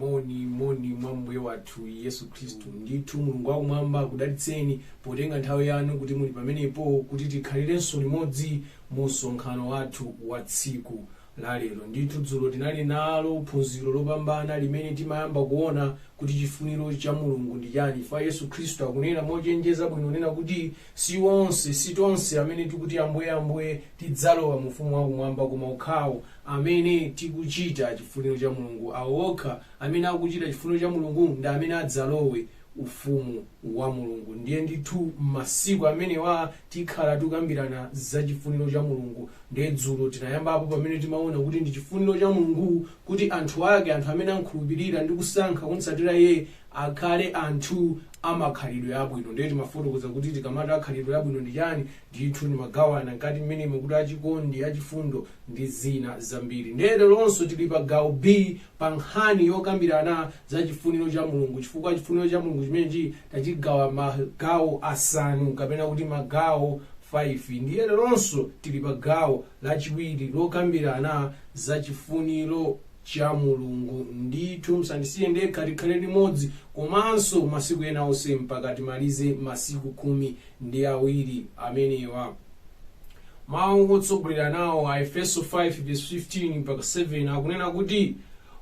moni moni mwa mbuye wathu yesu khristu ndithu mulungu wakumwamba akudalitseni potenga nthawi yanu kuti muli pamenepo kuti tikhalirenso limodzi mu msonkhano wathu wa tsiku la lero ndithu dzulo tinali nalo phunziro lopambana limene timayamba kuona kuti chifuniro cha mulungu ndi chani chifukwa yesu khristu akunena mochenjeza bwino nena kuti Si onse, si tonse amene tikuti, Ambuye, Ambuye, tidzalowa mu Ufumu wa Kumwamba, koma okhawo amene tikuchita chifuniro cha Mulungu. Awo okha amene akuchita chifuniro cha Mulungu ndi amene adzalowe Ufumu wa Mulungu. Ndiye ndithu m'masiku amenewa tikhala tikukambirana za chifuniro cha Mulungu. Ndiye dzulo tinayambapo pamene timaona kuti ndi chifuniro cha Mulungu kuti anthu ake, anthu amene amkhulupirira ndi kusankha kumtsatira Iye, akhale anthu amakhalidwe abwino. Ndiye timafotokoza kuti tikamati akhalidwe abwino ndi chani, ndithu timagawana mkati mmenemo kuti achikondi, achifundo ndi zina zambiri. Ndiye leronso tili pa gawo B pa nkhani yokambirana za chifuniro cha Mulungu chifukwa chifuniro cha Mulungu chimenechi tachigawa magawo asanu kapena kuti magawo 5. Ndiye leronso tili pa gawo lachiwiri lokambirana za chifuniro. cha Mulungu. Ndithu musandisiye ndekha, tikhale limodzi komanso masiku ena onse mpaka timalize masiku khumi ndi awiri amenewa. Mawu otsogolera nawo a Efeso 5:15 mpaka 7 akunena kuti,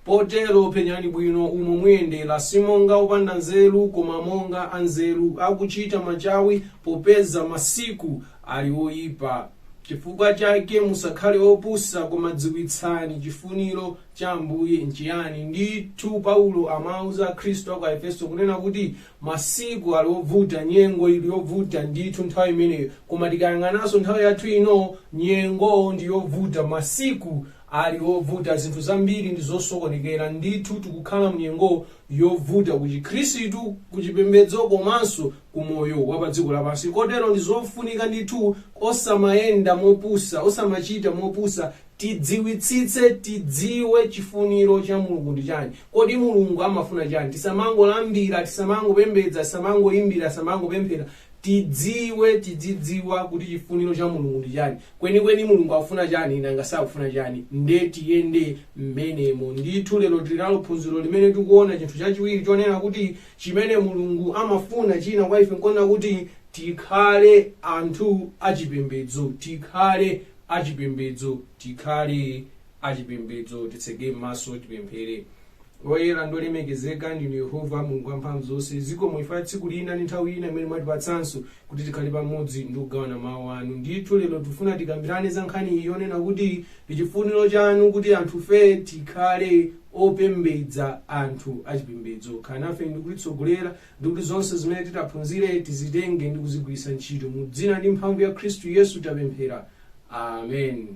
Potero penyani bwino umo muyendera, si monga opanda nzeru, koma monga anzeru, akuchita machawi, popeza masiku ali oipa. Chifukwa chake musakhale opusa, koma dziwitsani chifuniro cha Ambuye nchiyani. Ndithu, Paulo amawauza Akhristu a ku Aefeso kunena kuti masiku ali ovuta, nyengo ili yovuta ndithu nthawi imeneyo. Koma tikayang'ananso nthawi yathu ino, nyengo ndi yovuta, masiku ali ovuta, zinthu zambiri ndi zosokonekera. Ndithu tikukhala m'nyengo yovuta ku Chikhristu, ku chipembedzo komanso ku moyo wa pa dziko lapansi. Kotero ndi zofunika ndithu osamayenda mopusa, osamachita mopusa, tidziwitsitse, tidziwe chifuniro cha Mulungu ndi chani. Kodi Mulungu amafuna chani? Tisamangolambira, tisamangopembedza, tisamangoyimbira, tisamangopemphera, tidziwe, tidzidziwa kuti chifuniro cha Mulungu ndi chani. Kwenikweni Mulungu akufuna chani nanga sakufuna chani. Nde tiyende mmenemo. Ndithu lero tiri nalo phunziro limene tikuona chinthu chachiwiri chonena kuti Chimene Mulungu amafuna china kwa ife n'kwonena kuti tikhale anthu achipembedzo, tikhale achipembedzo, tikhale achipembedzo. Titseke maso tipemphere. Woyera ndi wolemekezeka ndinu Yehova Mulungu wamphamvu zonse, zikomo chifukwa cha tsiku lina ndi nthawi ina imene mwatipatsanso kuti tikhale pamodzi ndi kugawana mawu anu. Ndithu lero tifuna tikambirane za nkhani iyi yonena kuti Ndichifuniro chanu kuti anthufe tikhale opembedza anthu achipembedzo. Khalani nafe ndi kutitsogolera ndi kuti zonse zimene titaphunzire tizitenge ndi kuzigwiritsa ntchito. Mu dzina ndi mphamvu ya Khristu Yesu tapemphera. Amen.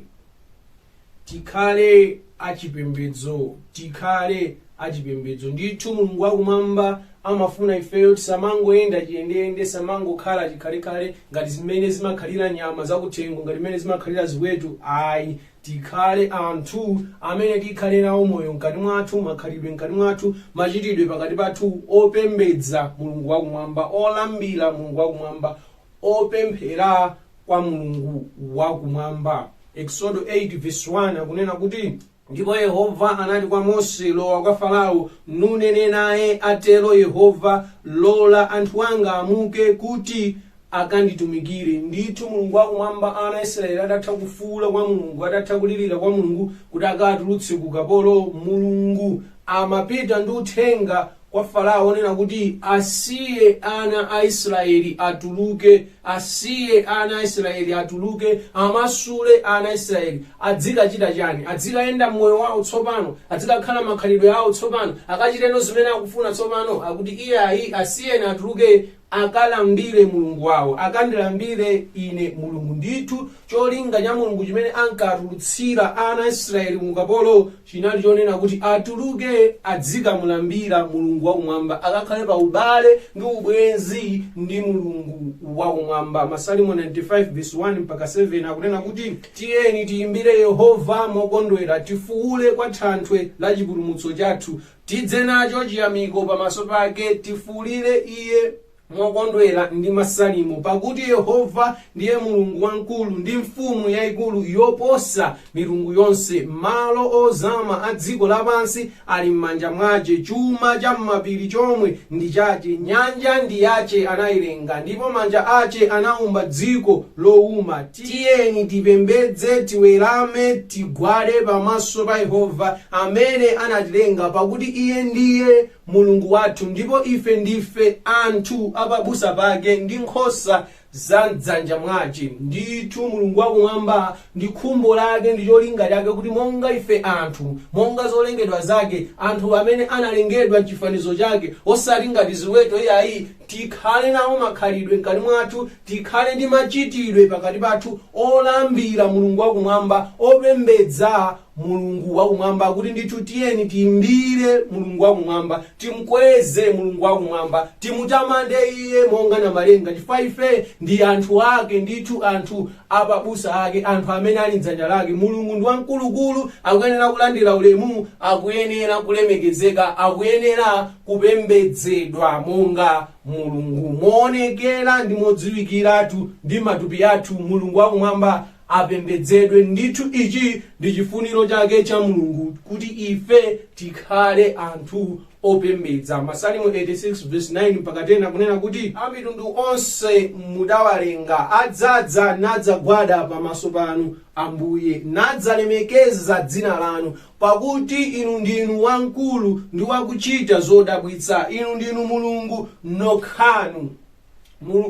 Tikhale achipembedzo. Tikhale achipembedzo. Ndithu Mulungu wa Kumwamba amafuna ifeyo tisamangoyenda chiyendeyende, tisamangokhala chikhalekhale ngati zimene zimakhalira nyama zakuthengo, ngati zimene zimakhalira ziweto ayi. Tikhale anthu amene tikhale nawo moyo mkati mwathu, makhalidwe mkati mwathu, machitidwe pakati pathu opembedza Mulungu wa Kumwamba, olambira Mulungu wa Kumwamba, opemphera kwa Mulungu wa Kumwamba. Eksodo 8 vesi 1 akunena kuti. Ndipo Yehova anati kwa Mose, Lowa kwa Farao, nunene naye, Atero Yehova, Lola anthu anga amuke, kuti akanditumikire. Ndithu Mulungu wa Kumwamba, ana a Israyeli adatha kufuula kwa Mulungu, adatha kulirira kwa Mulungu kuti akawatulutse ku ukapolo, Mulungu amapita ndi uthenga kwa farao onena kuti asiye ana a israeli atuluke asiye ana a israeli atuluke amasule ana a israeli adzikachita chani adzikayenda mmoyo wawo tsopano adzikakhala makhalidwe awo tsopano akachiteno zimene akufuna tsopano akuti iyayi asiyeni atuluke akalambire Mulungu wawo, akandilambire Ine Mulungu. Ndithu, cholinga cha Mulungu chimene ankawatulutsira ana a Israeli mu ukapolo chinali chonena kuti atuluke adzikamulambira Mulungu wakumwamba, akakhale pa ubale ndi ubwenzi ndi Mulungu wakumwamba. Masalimo 95 vesi 1 mpaka 7 akunena kuti, Tiyeni tiyimbire Yehova mokondwera, tifuwule kwa Thanthwe la chipulumutso chathu. Tidze nacho chiyamiko pamaso pake, tifuulire Iye mokondwera ndi masalimo. Pakuti Yehova ndiye Mulungu wamkulu ndi mfumu yayikulu yoposa milungu yonse. Malo ozama a dziko lapansi ali m'manja mwache, chuma cha m'mapiri chomwe ndi chache. Nyanja ndi yache, anayilenga, ndipo manja ache anaumba dziko lowuma. Tiyeni tipembedze, tiwerame, tigwade pamaso pa Yehova amene anatilenga, pakuti Iye ndiye Mulungu wathu, ndipo ife ndife anthu a pabusa pake, ndi nkhosa za m'dzanja mwace. Ndithu Mulungu wa Kumwamba ndi khumbo lake ndi cholinga chake kuti monga ife anthu, monga zolengedwa zake, anthu amene analengedwa m'chifanizo chake, osati ngati ziweto iyayi, tikhale nawo makhalidwe mkati mwathu Tikhale ndi machitidwe pakati pathu olambira Mulungu wa Kumwamba, opembedza Mulungu wa Kumwamba, kuti ndithu tiyeni tiimbire Mulungu wa Kumwamba, timkweze Mulungu wa Kumwamba, timutamande Iye monga Namalenga, chifukwa ife ndi anthu Ake ndithu, anthu a pabusa Ake, anthu amene ali m'dzanja Lake. Mulungu ndi wamkulukulu, akuyenera kulandira ulemu, akuyenera kulemekezeka, akuyenera kupembedzedwa monga. Mulungu. Moonekera ndi modziwikiratu, ndi matupi athu, Mulungu wa Kumwamba apembedzedwe. Ndithu ichi ndi chifuniro chake cha Mulungu kuti ife tikhale anthu opembedza. Masalimo 86 vesi 9 mpaka 10 akunena kuti amitundu onse mudawalenga adzadza nadzagwada pamaso panu, Ambuye, nadzalemekeza dzina lanu. Pakuti Inu ndinu wamkulu ndi wakuchita zodabwitsa, Inu ndinu Mulungu nokhanu.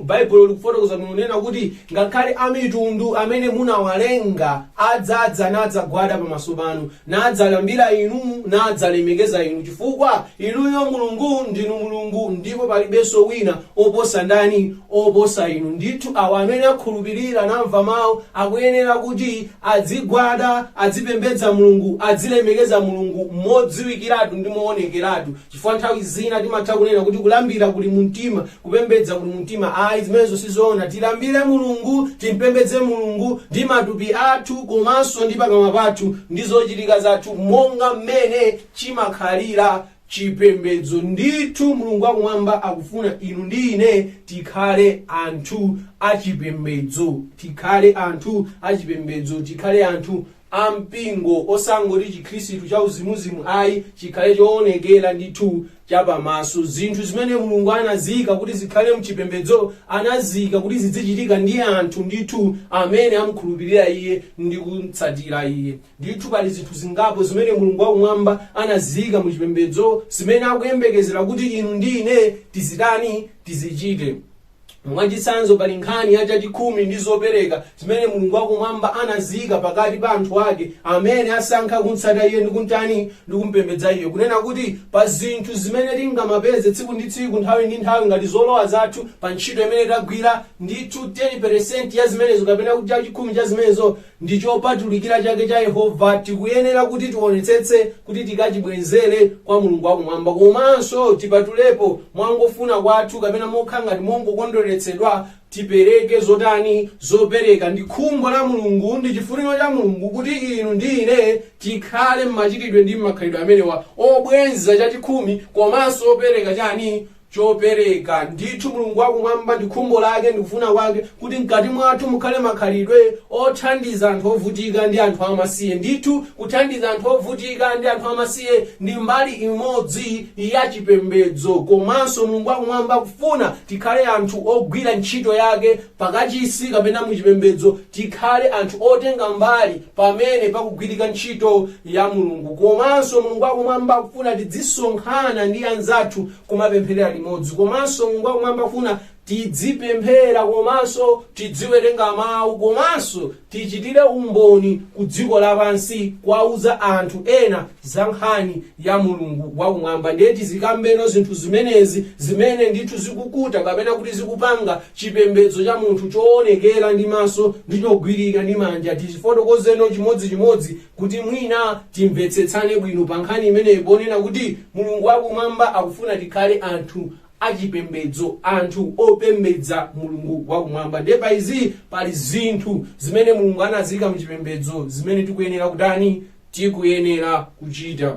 Baibulo likufotokoza kunena kuti ngakhale amitundu amene munawalenga adzadza nadzagwada pamaso panu, nadzalambira inu, nadzalemekeza inu, chifukwa inuyo Mulungu ndinu Mulungu, ndipo palibenso wina oposa ndani? Oposa inu. Ndithu awa amene akhulupirira namva mawu akuyenera kuti Adzigwada, adzipembedza Mulungu, adzilemekeza Mulungu modziwikiratu ndi moonekeratu chifukwa nthawi zina timatha kunena kuti kulambira kuli mu mtima, kupembedza kuli mu mtima ayi zimenezo si zoona. Tilambire Mulungu, timpembedze Mulungu ndi matupi athu komanso ndi pakamwa pathu ndi zochitika zathu monga mmene chimakhalira chipembedzo. Ndithu Mulungu wa Kumwamba akufuna inu ndi ine tikhale anthu a chipembedzo, tikhale anthu a chipembedzo, tikhale anthu a mpingo, osangoti chikhristu cha uzimuzimu ayi, chikhale choonekera ndithu chapamaso. Zinthu zimene Mulungu anaziika kuti zikhale mchipembedzo anaziika kuti zidzichitika ndi anthu ndithu amene amkhulupirira Iye ndi kumtsatira Iye. Ndithu pali zinthu zingapo zimene Mulungu wakumwamba anaziika mu chipembedzo zimene akuyembekezera kuti inu ndi ine tizitani? Tizichite. Mwachitsanzo, pali nkhani ya chachikhumi ndi zopereka zimene Mulungu wakumwamba anaziika pakati pa anthu ake amene asankha kumtsata iye ndi kumtani? Ndi kumpembedza iye. Kunena kuti pa zinthu zimene tingamapeze tsiku ndi tsiku, nthawi ndi nthawi ngati zolowa zathu pa ntchito imene tagwira, ndithu 10% ya zimenezo kapena kuti chachikhumi cha zimenezo ndi chopatulikira chake cha Yehova, tikuyenera kuti tionetsetse kuti tikachibwezere kwa Mulungu wa kumwamba komanso tipatulepo mwangofuna kwathu kapena mokhala ngati mongokondweretsedwa tipereke zotani zopereka. Ndi khumbo la Mulungu, ndi chifuniro cha Mulungu kuti inu ndi ine tikhale m'machitidwe ndi m'makhalidwe amenewa obwenza chachikhumi komanso opereka chani? chopereka. Ndithu Mulungu wa Kumwamba ndi khumbo lake ndi kufuna kwake kuti mkati mwathu mukhale makhalidwe othandiza anthu ovutika ndi anthu amasiye. Ndithu kuthandiza anthu ovutika ndi anthu amasiye ndi mbali imodzi ya chipembedzo. Komanso Mulungu wa Kumwamba akufuna tikhale anthu ogwira ntchito yake pakachisi kapena mu chipembedzo Tikhale anthu otenga mbali pamene pakugwirika ntchito ya Mulungu komanso Mulungu wakumwamba akufuna tidzisonkhana ndi anzathu kumapempherera limodzi komanso Mulungu wakumwamba akufuna tidzipemphera komanso tidziwerenga mau komanso tichitire umboni ku dziko lapansi kuwauza anthu ena za nkhani ya Mulungu wakumwamba ndiye tizikambeno zinthu zimenezi zimene ndithu zikukuta kapena kuti zikupanga Chipembedzo cha munthu choonekera ndi maso ndi chogwirika ndi manja. Tizifotokozeno chimodzichimodzi kuti mwina timvetsetsane bwino pa nkhani imeneyi ponena kuti Mulungu wa Kumwamba akufuna tikhale anthu a chipembedzo, anthu opembedza Mulungu wa Kumwamba. Ndiye pa izi pali zinthu zimene Mulungu anaziika mu chipembedzo zimene tikuyenera kutani? Tikuyenera kuchita.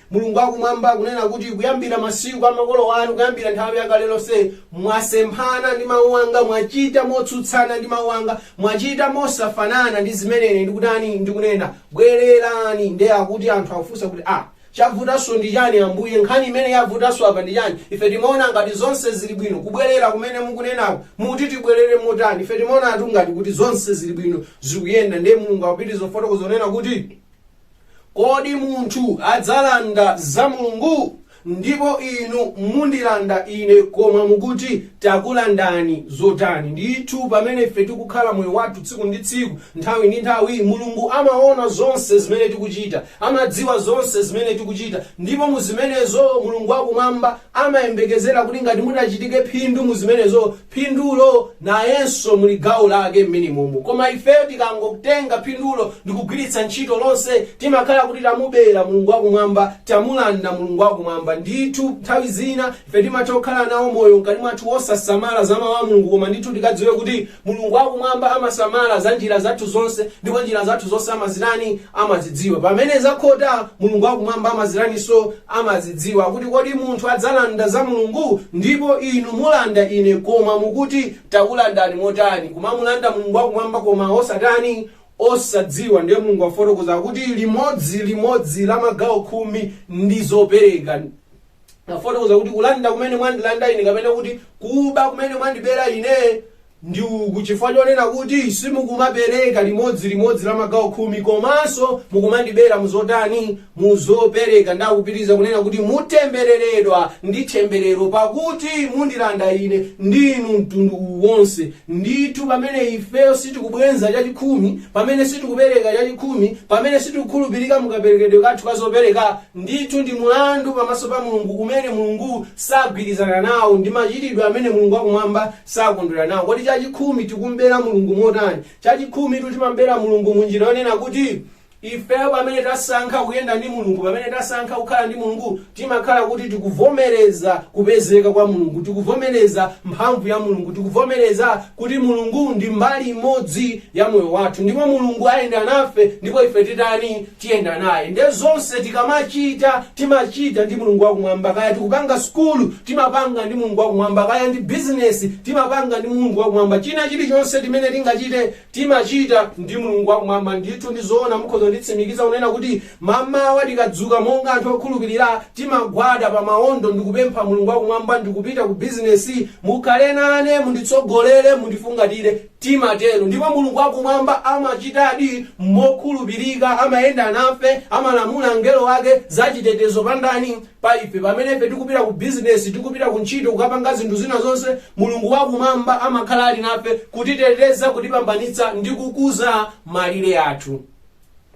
Mulungu wa Kumwamba akunena kuti, Kuyambira masiku a makolo anu, kuyambira nthawi ya kale lonse, mwasemphana ndi mawu anga, mwachita motsutsana ndi mawu anga, mwachita mosafanana ndi zimene ine ndikutani, ndikunena. Bwererani! Ndiye akuti anthu akufunsa kuti, Ah, chavutanso ndi chani, Ambuye? Nkhani imene yavutanso apa ndi chani? Ife timaona ngati zonse zili bwino. Kubwerera kumene mukunenaku, mukuti tibwerere motani? Ife timaonatu ngati kuti zonse zili bwino, zikuyenda. Ndiye Mulungu akupitiriza kufotokoza kunena kuti. Kodi munthu adzalanda za Mulungu? Ndipo inu mundilanda ine, koma mukuti, Takulandani zotani? Ndithu pamene ife tikukhala moyo wathu tsiku ndi tsiku, nthawi ndi nthawi, Mulungu amaona zonse zimene tikuchita, amadziwa zonse zimene tikuchita, ndipo mu zimenezo Mulungu wa Kumwamba amayembekezera kuti ngati mutachitike phindu mu zimenezo, phindulo nayenso muli gawo lake mmenimomo koma ifeyo tikangotenga phindulo ndikugwiritsa ntchito lonse timakhala kuti tamubera Mulungu wakumwamba, tamulanda Mulungu wakumwamba. Ndithu nthawi zina ife timatha kukhala nawo moyo mkati mwathu wosasamala za mau a Mulungu koma ndithu tikadziwe kuti Mulungu wakumwamba amasamala za njira zathu zonse ndipo njira zathu zonse amazirani? amazidziwa. Pamene zakhota, Mulungu wakumwamba amaziraninso? Amazidziwa. Akuti, Kodi munthu adzalanda za Mulungu? Ndipo inu mulanda Ine, koma mukuti, Takulandani motani? Kumamulanda Mulungu wakumwamba koma osatani? Osadziwa. Ndiye Mulungu afotokoza kuti limodzi limodzi la magawo khumi ndi zopereka afotokoza kuti kulanda kumene mwandilanda ine kapena kuti kuba kumene mwandibera ine ndi uku chifukwa chonena kuti simukumapereka limodzi limodzi la magawo khumi komanso mukumandibera muzotani muzopereka ndakupitiriza kunena kuti mutembereredwa ndi themberero pakuti mundilanda ine ndinu mtundu wonse ndithu pamene ifeyo sitikubwenza chachikhumi pamene sitikupereka chachikhumi pamene sitikukhulupirika mukaperekedwe kathu kazopereka ndithu ndi mulandu pamaso pa mulungu umene mulungu sagwirizana nawo ndi machitidwe amene mulungu wakumwamba sakondwera nawo. Kodi chachikhumi tikum'bera Mulungu motani? Chachikhumitu timam'bera Mulungu mu njira yonena kuti ifeyo pamene tasankha kuyenda ndi Mulungu, pamene tasankha kukhala ndi Mulungu, timakhala kuti tikuvomereza kupezeka kwa Mulungu, tikuvomereza mphamvu ya Mulungu, tikuvomereza kuti Mulungu ndi mbali imodzi ya moyo wathu, ndipo Mulungu ayenda nafe, ndipo ife titani? tiyenda naye nde zonse tikamachita timachita ndi Mulungu wakumwamba kaya tikupanga sukulu timapanga ndi Mulungu wakumwamba kaya ndi business timapanga ndi Mulungu wakumwamba china chilichonse timene tingachite timachita ndi Mulungu wakumwamba ndithu ndi zoona mukhoza kunditsimikiza kunena kuti mamawa tikadzuka monga anthu okhulupirira timagwada pa maondo ndikupempha Mulungu wakumwamba ndikupita ku business mukhale nane munditsogolere mundifungatire Timatero, ndipo Mulungu wa Kumwamba amachitadi mokhulupirika, amayenda nafe, amalamula angelo ake za chitetezo pa ndani? Pa ife. Pamene ife tikupita ku bizinesi, tikupita ku ntchito, kukapanga zinthu zina zonse, Mulungu wa Kumwamba amakhala ali nafe, kutiteteza, kutipambanitsa, ndi kukuza malire athu.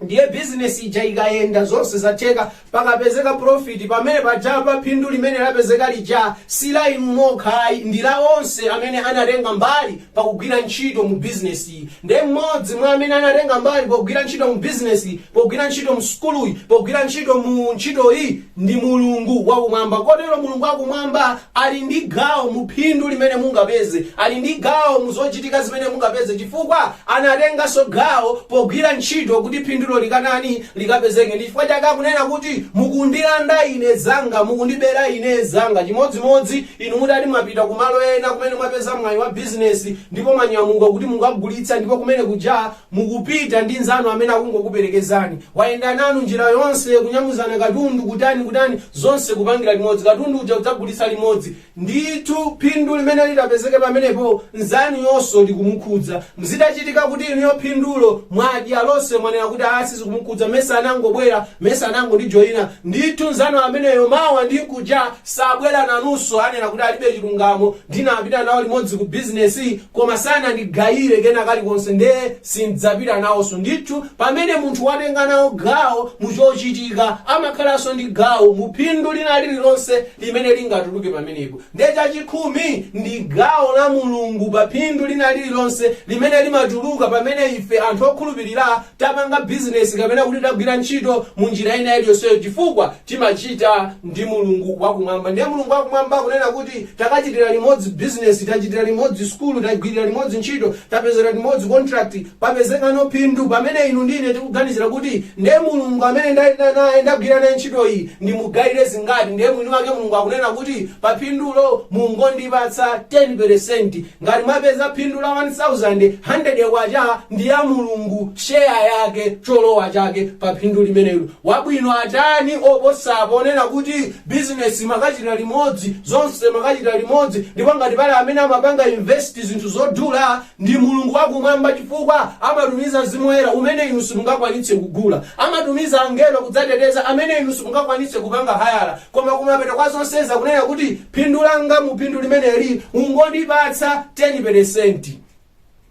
ndiye bizinesi ija ikayenda zonse zatheka pakapezeka profit pamene paja pa phindu limene lapezeka lija si la inu nokha ayi ndi la onse amene anatenga mbali pakugwira ntchito mu bizinesiyi ndiye mmodzi mwa amene anatenga mbali pogwira ntchito mu bizinesi pogwira ntchito mu sukuluyi pogwira ntchito mu ntchitoyi ndi Mulungu wa Kumwamba. Kotero Mulungu wa Kumwamba ali ndi gawo mu phindu limene mungapeze, ali ndi gawo mu zochitika zimene mungapeze, chifukwa anatenganso gawo pogwira ntchito kuti phindulo likatani, likapezeke. Ndi chifukwa chake akunena kuti mukundilanda ine zanga, mukundibera ine zanga. Chimodzimodzi inu mutati mwapita ku malo ena kumene mwapeza mwayi wa bizinesi ndipo mwanyamuka kuti mukagulitse ndipo kumene kuja Mukupita ndi nzanu amene akungokuperekezani. Wayenda nanu njira yonse, kunyamuzana katundu, kutani, kutani, zonse kupangira limodzi. Katundu uja kudzagulitsa limodzi. Ndithu phindu limene litapezeke pamenepo nzanuyonso likumukhudza. Zitachitika kuti inuyo phindulo mwadya lonse mwanena kuti aah sizikumukhudza, mesa anangobwera, mesa anangondijoina. Ndithu nzanu ameneyo mawa ndi nkuja sabwera nanunso anena kuti alibe chilungamo, ndinapita nawo limodzi ku bizinesiyi, koma sanandigayire kena kalikonse, nde sin'dzapita nawonso. Ndithu, pamene munthu watenga nawo gawo mu chochitika, amakhalanso ndi gawo mu phindu lina lililonse limene lingatuluke pamenepo. Nde chachikhumi ndi gawo la Mulungu pa phindu lina lililonse limene limatuluka pamene ife anthu okhulupirira tapanga bizinesi kapena kuti tagwira ntchito mu njira ina iliyonseyo chifukwa timachita ndi mulungu wakumwamba ndiye mulungu wakumwamba akunena kuti takachitira limodzi bizinesi tachitira limodzi sukulu tagwirira limodzi ntchito tapezera limodzi contract papezekano phindu pamene inu ndi ine tikuganizira kuti ndiye mulungu amene ndayenda naye ndagwira naye ntchito iyi ndimugayire zingati ndiye mwini wake mulungu akunena kuti pa phindulo mungondipatsa 10 peresenti Ngati mwapeza phindu la 1000, 100 kwacha ndi ya Mulungu share yake cholowa chake pa phindu limenelo. Wabwino atani oposapo onena kuti business mwakachita limodzi, zonse mwakachita limodzi ndipo ngati pali amene amapanga invest zinthu zodula ndi Mulungu wa kumwamba chifukwa amatumiza Mzimu Woyera umene inu simungakwanitse kugula. Amatumiza angelo kudzateteza amene inu simungakwanitse kupanga hayala. Koma kumapeto kwa zonsezo akunena kuti phindu langa mu phindu limeneli ungondipatsa 10 peresenti.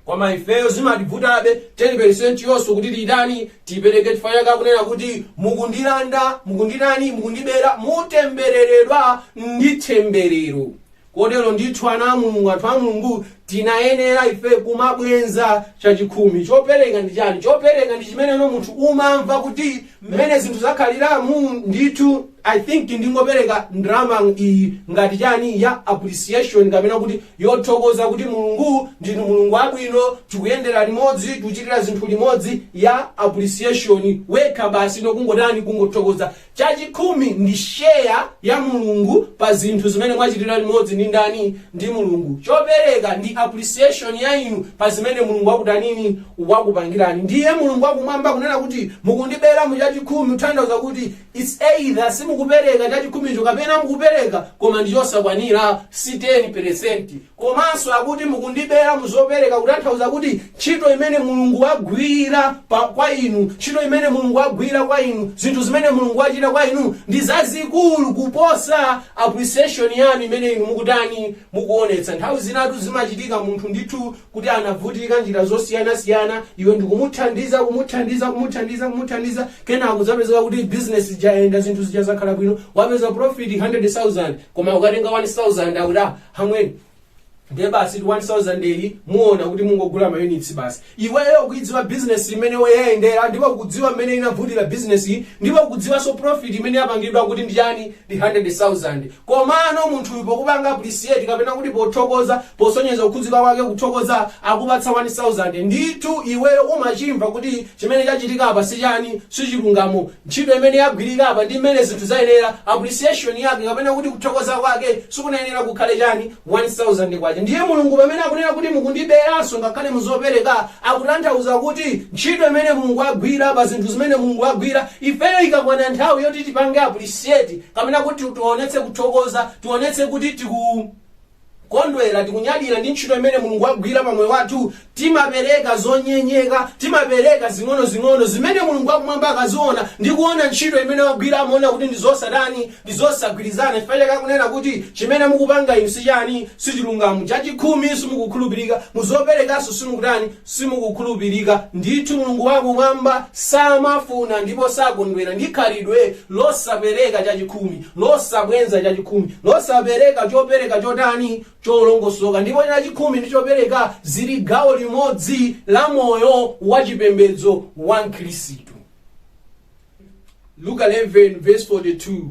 Koma ifeyo zimativutabe 10 peresenti yonso kuti titani, tipereke chifukwa chake akunena kuti mukundilanda, mukunditani, mukundibera, mutembereredwa ndi themberero. Kotero ndithu, ana a Mulungu, anthu a Mulungu, tinayenera ife kumabwenza chachikhumi. Chopereka ndi chani? Chopereka ndi chimene no munthu umamva kuti mmene zinthu zakhaliramu, ndithu, I think ndingopereka ndalama iyi ngati chani, ya appreciation kapena kuti yothokoza kuti Mulungu, ndinu Mulungu wabwino, tikuyendera limodzi, tikuchitira zinthu limodzi, ya appreciation, wekha basi, no kungotani, kungothokoza. Chachikhumi ndi share ya Mulungu pa zinthu zimene mwachitira limodzi ndi ndani? Ndi Mulungu. Chopereka ndi appreciation ya inu pa zimene Mulungu wakutanini? Wakupangirani. Ndiye Mulungu wakumwamba kunena kuti mukundibera mu chachikhumi kutanthauza kuti it's either simukupereka chachikhumicho kapena mukupereka koma ndi chosakwanira si 10%. Komanso akuti mukundibera mu zopereka kutanthauza kuti ntchito imene Mulungu wagwira pa, kwa inu, ntchito imene Mulungu wagwira kwa inu, zinthu zimene Mulungu wachita kwa inu ndi zazikulu kuposa appreciation yanu imene inu mukutani, mukuonetsa. Nthawi zinatu zimachitika munthu ndithu kuti anavutika njira zosiyanasiyana, iwe ndikumuthandiza, kumuthandiza, kumuthandiza, kumuthandiza, kenako zapezeka kuti business ija yayenda zinthu zija zakhala bwino, wapeza profit 100,000 koma akatenga 1,000 akuti ah, amwene ndiye basi 1000 iyi muona kuti mungogula mayunitsi basi iweyo ukuidziwa bizinesi mmene yayendera ndipo ukudziwa mmene inavutira bizinesi iyi ndipo ukudziwanso profit imene yapangidwa kuti ndi chani ndi 100000 komano munthuyu pokupanga appreciate kapena kuti pothokoza posonyeza kukhudzika kwake kuthokoza akupatsa 1000 ndithu iweyo umachimva kuti chimene chachitika apa si chani si chilungamo Ntchito imene yagwirika apa ndi mmene zinthu zayendera, appreciation yake kapena kuti kuthokoza kwake sikunayenera kukhale chani? K1000. Ndiye Mulungu pamene akunena kuti mukundiberanso ngakhale mu zopereka akutanthauza kuti ntchito imene Mulungu agwira pa zinthu zimene Mulungu agwira ifeyo ikakwana nthawi yoti tipange appreciate kapena kuti tionetse kuthokoza, tionetse kuti tiku. kondwera tikunyadira ndi ntchito imene mulungu wagwira pa moyo wathu timapereka zonyenyeka timapereka zing'onozing'ono zimene mulungu wakumwamba akaziona ndi kuona ntchito imene wagwira amaona kuti ndi zosatani ndi zosagwirizana chifukwa chake akunena kuti chimene mukupanga inu sichani sichilungamo chachikhumi simukukhulupirika muzoperekanso simukutani Simukukhulupirika. Ndithu Mulungu wa Kumwamba samafuna ndipo sakondwera ndi khalidwe losapereka chachikhumi, losabwenza chachikhumi, losapereka chopereka chotani? cholongosoka. Ndipo chachikhumi ndi chopereka zili gawo limodzi la moyo wa chipembedzo wa Mkhristu. Luka 11:42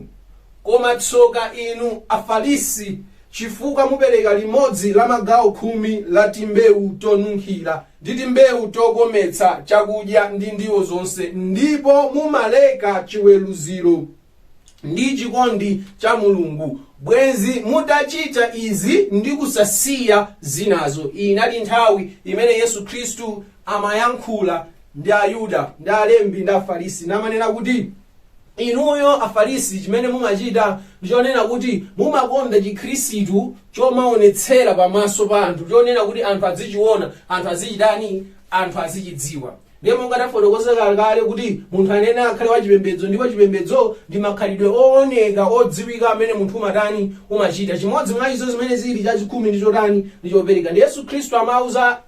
Koma tsoka inu, Afarisi, chifukwa mupereka limodzi la magawo khumi la timbewu tonunkhira, ndi timbewu tokometsa chakudya ndi ndiwo zonse, ndipo mumaleka chiweruziro ndi chikondi cha Mulungu. Bwenzi mutachita izi ndi kusasiya zinazo. Iyi inali nthawi imene Yesu Khristu amayankhula ndi Ayuda, ndi alembi, ndi Afarisi, namanena kuti, Inuyo Afarisi chimene mumachita ndi chonena kuti mumakonda chikhristu chomaonetsera pamaso pa anthu, chonena kuti anthu azichiona, anthu azichitani, anthu azichidziwa. Ndiye monga tafotokoza kale kuti munthu amene akhale wachipembedzo ndipo chipembedzo ndi makhalidwe ooneka odziwika amene munthu umatani umachita. Chimodzi mwa izo zimene zili chachikhumi ndi chotani ndi chopereka. Ndi Yesu Khristu amauza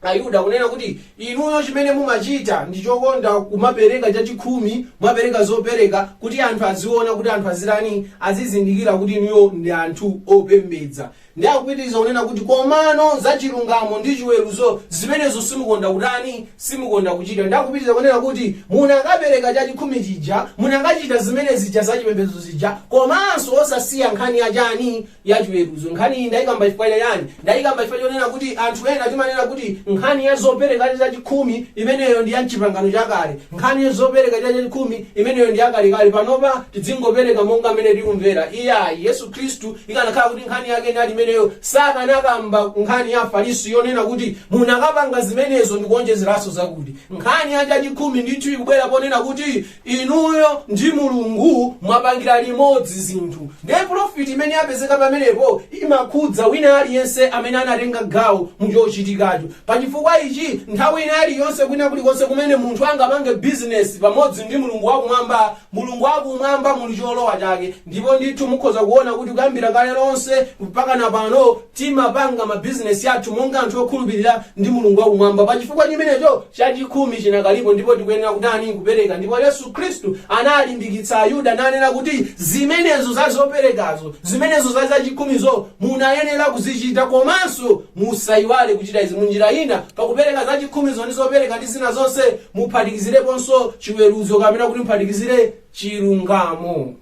ayuda kunena kuti inuyo chimene mumachita ndi chokonda kumapereka chachikhumi mumapereka zopereka kuti anthu aziona kuti anthu azitani azizindikira kuti inuyo ndi anthu opembedza ndi akupitiriza kunena kuti komano za chilungamo ndi chiweruzo zimenezo simukonda kutani simukonda kuchita ndi akupitiriza kunena kuti munakapereka chachikhumi chija munakachita zimene zija za chipembedzo zija komanso osasiya nkhani ya chani ya chiweruzo. Nkhaniyi ndaikamba chifukwa cha chani? Ndaikamba chifukwa chonena kuti anthu ena timanena kuti nkhani ya zopereka chachikhumi imeneyo ndi ya m'Chipangano Chakale. Nkhani ya zopereka chachikhumi imeneyo ndi yakalekale. Panopa tidzingopereka monga mmene tikumvera. Iyayi, Yesu Khristu ikanakhala kuti nkhani yake inali imeneyo, sakanakamba nkhani ya Afarisi yonena kuti munakapanga zimenezo ndi kuonjezeranso zakuti. Nkhani ya chachikhumi ndithu ikubwera ponena kuti Inuyo ndi Mulungu mwapangira limodzi zinthu ndiye polofiti imene yapezeka pamenepo imakhudza wina aliyense amene anatenga gawo mu chochitikacho. Pa chifukwa ichi, nthawi ina iliyonse kwina kulikonse kumene munthu angapange bizinesi pamodzi ndi Mulungu wa Kumwamba, Mulungu wa Kumwamba muli cholowa chake ndipo ndithu mukhoza kuona kuti kuyambira kale lonse mpakana pano timapanga mabizinesi athu monga anthu okhulupirira ndi Mulungu wa Kumwamba pa chifukwa chimenecho. Chachikhumi chinakalipo ndipo tikuyenera kutani? Kupereka. Ndipo Yesu Khristu analimbikitsa Ayuda nanena kuti zimenezo za zoperekazo, zimenezo za zachikhumizo munayenera kuzichita komanso musaiwale kuchita izi. Munjira ina, pakupereka zachikhumizo ndi zopereka ndi zina zonse, muphatikizireponso chiweruzo kapena kuti muphatikizire chilungamo.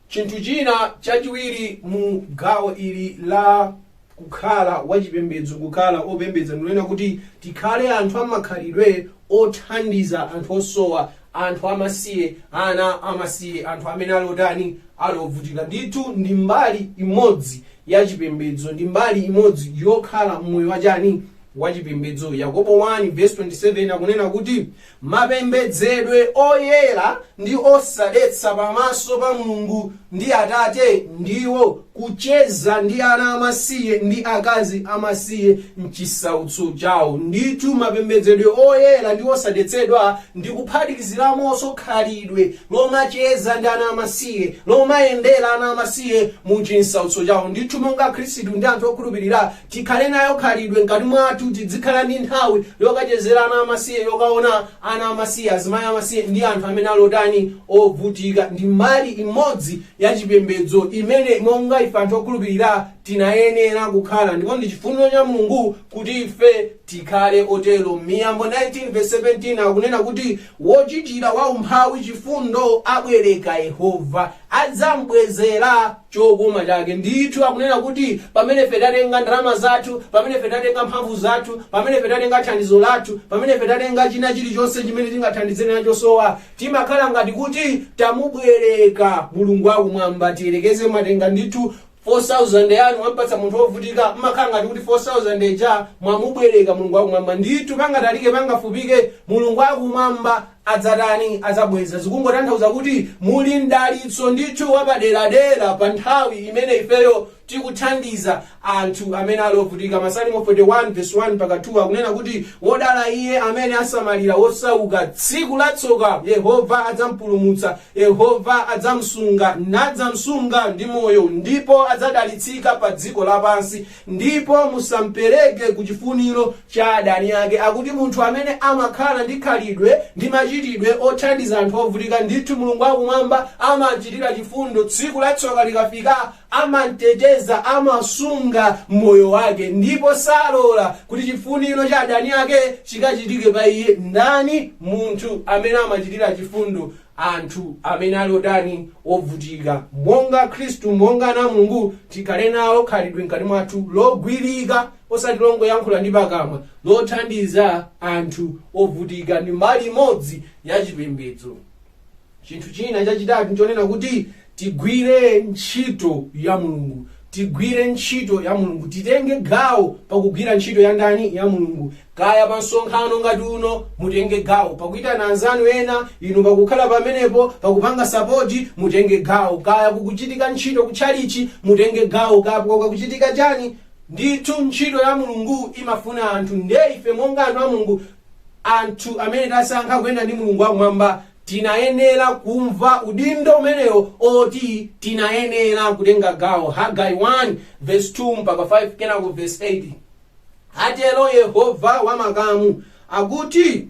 Chinthu china chachiwiri mu gawo ili la kukhala wachipembedzo, kukhala opembedza, ndi kunena kuti tikhale anthu amakhalidwe othandiza anthu osowa, anthu amasiye, ana amasiye, anthu amene ali otani, ali ovutika. Ndithu ndi mbali imodzi ya chipembedzo, ndi mbali imodzi yokhala mmoyo wachani, wachipembedzo. Yakobo 1 verse 27 akunena kuti Mapembedzedwe oyera ndi osadetsa pamaso pa Mulungu ndi Atate ndiwo kucheza ndi ana amasiye ndi akazi amasiye m'chisautso chawo. Ndithu, mapembedzedwe oyera ndi osadetsedwa ndi kuphatikiziramonso khalidwe lomacheza ndi ana amasiye, lomayendera ana amasiye mu chisautso chawo. Ndithu, monga Akhristu ndi anthu okhulupirira, Tikhale nayo khalidwe mkati mwathu, tidzikhala ndi nthawi yokachezera ana amasiye, yokaona ana amasiye, azimayi amasiye, ndi anthu amene ali otani, ovutika. Ndi mbali imodzi ya chipembedzo imene, monga ife anthu okhulupirira, tinayenera kukhala, ndipo ndi chifuniro cha Mulungu kuti ife tikhale otero. Miyambo 19 vesi 17 akunena kuti, Wochitira waumphawi chifundo abwereka Yehova, adzam'bwezera. chokoma chake. Ndithu akunena kuti pamene ife tatenga ndalama zathu, pamene ife tatenga mphamvu zathu, pamene ife tatenga thandizo lathu, pamene ife tatenga china chilichonse chimene tingathandizire nacho osowa, timakhala ngati kuti tamubwereka Mulungu wakumwamba. Tiyerekeze mwatenga ndithu 4,000 yanu mwampatsa munthu wovutika, mmakhala ngati kuti 4,000 ija mwamubwereka Mulungu wakumwamba. Ndithu pangatalike pangafupike, Mulungu wakumwamba adzatani? Adzabweza. Zikungotanthauza kuti muli mdalitso ndithu wapaderadera pa nthawi imene ifeyo tikuthandiza anthu amene ali ovutika. Masalimo 41 vesi 1 mpaka 2 akunena kuti, Wodala iye amene asamalira wosauka, tsiku la tsoka Yehova adzampulumutsa, Yehova adzamsunga, nadzamsunga ndi moyo, ndipo adzadalitsika padziko lapansi. Ndipo musampereke ku chifuniro cha adani ake. Akuti munthu amene amakhala ndi khalidwe ndi machitidwe othandiza anthu ovutika, ndithu Mulungu wa Kumwamba amachitira chifundo, tsiku la tsoka likafika amamteteza, amasunga moyo wake, ndipo salola kuti chifuniro cha adani ake chikachitike pa iye. Ndani munthu amene amachitira chifundo anthu amene ali otani? Ovutika. Monga Akhristu, monga ana a Mulungu, tikhale nalo khalidwe mkati mwathu logwirika, osati longoyankhula ndi pakamwa, lothandiza anthu ovutika. Ndi mbali imodzi ya chipembedzo. Chinthu china chachitatu nchonena kuti Tigwire ntchito ya Mulungu. Tigwire ntchito ya Mulungu. Titenge gawo pakugwira ntchito ya ndani? Ya Mulungu. Kaya pa msonkhano ngati uno, mutenge gawo. Pakuitana anzanu ena, inu pakukhala pamenepo, pakupanga sapoti, mutenge gawo. Kaya kukuchitika ntchito ku tchalitchi, mutenge gawo. Kaya kukuchitika chani, ndithu ntchito ya Mulungu imafuna anthu. Ndiye ife monga anthu a Mulungu, anthu amene tasankha kuyenda ndi Mulungu wakumwamba, Tinayenera kumva udindo umenewo oti tinayenera kutenga gawo. Hagai 1 vesi 2 mpaka 5 kenako vesi 8. Atero Yehova wa makamu, akuti,